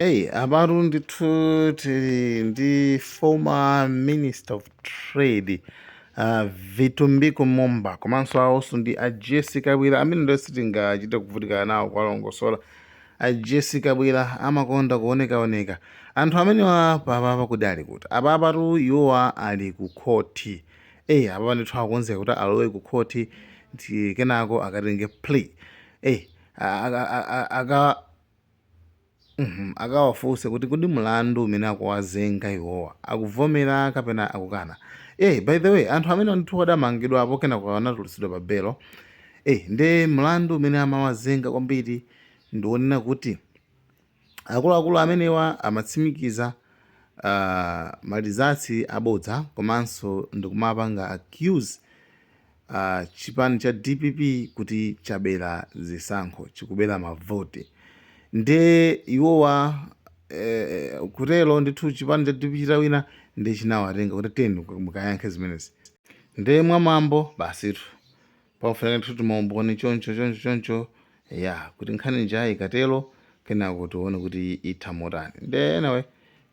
Hey, apatu ndithu tili ndi former minister of trade uh, vitumbiko mumba komanso awonso ndi a jesse kabwira amene ndo sitingachite kuvutika nawo kuwalongosola a jesse kabwira amakonda kuonekaoneka anthu amenewa papapa kodi ali kuti apapatu iwowa ali ku khoti eyi apapa ndithu akukonzeka kuti alowe ku khoti ndi kenako akatenge plea eyi uhmm akawafunse kuti kodi mlandu umene akuwazenga iwowa akuvomera kapena akukana eeh by the way anthu amenewa ndithu adamangidwapo kenako anatulutsidwa pa belo eeh nde mlandu umene amawazenga kwambiri ndi wonena kuti akuluakulu amenewa amatsimikiza aah ma results abodza komanso ndikumapanga accuse Chipani cha dpp kuti chabela zisankho, chikubela mavoti nde iwowa kutelo ndithu chipani cha dpp chitawina nde chinawatenga kuti tiyeni mukayankhe zimenezi nde mwa mwambo basitu pakufunika ndithu tumaumboni choncho choncho choncho eya kuti nkhani ija ikatelo kenako tione kuti itha motani nde anyway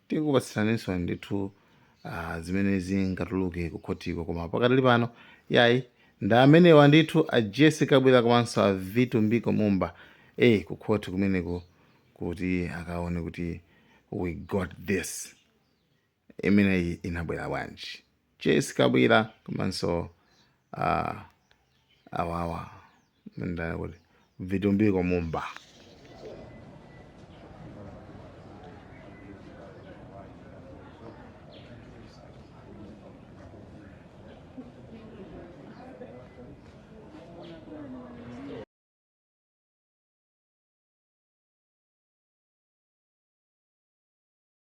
tikupatsiraninso ndithu uh, zimene zingatuluke ku khotiko koma pakadali pano yayi ndi amenewa ndithu a jesse kabwira komanso a vitumbiko mumba e ku khoti kumeneko kuti akaone kuti we got this imeneyi inabwera bwanji jesse kabwira komanso uh, awawa ndani kuti vitumbiko mumba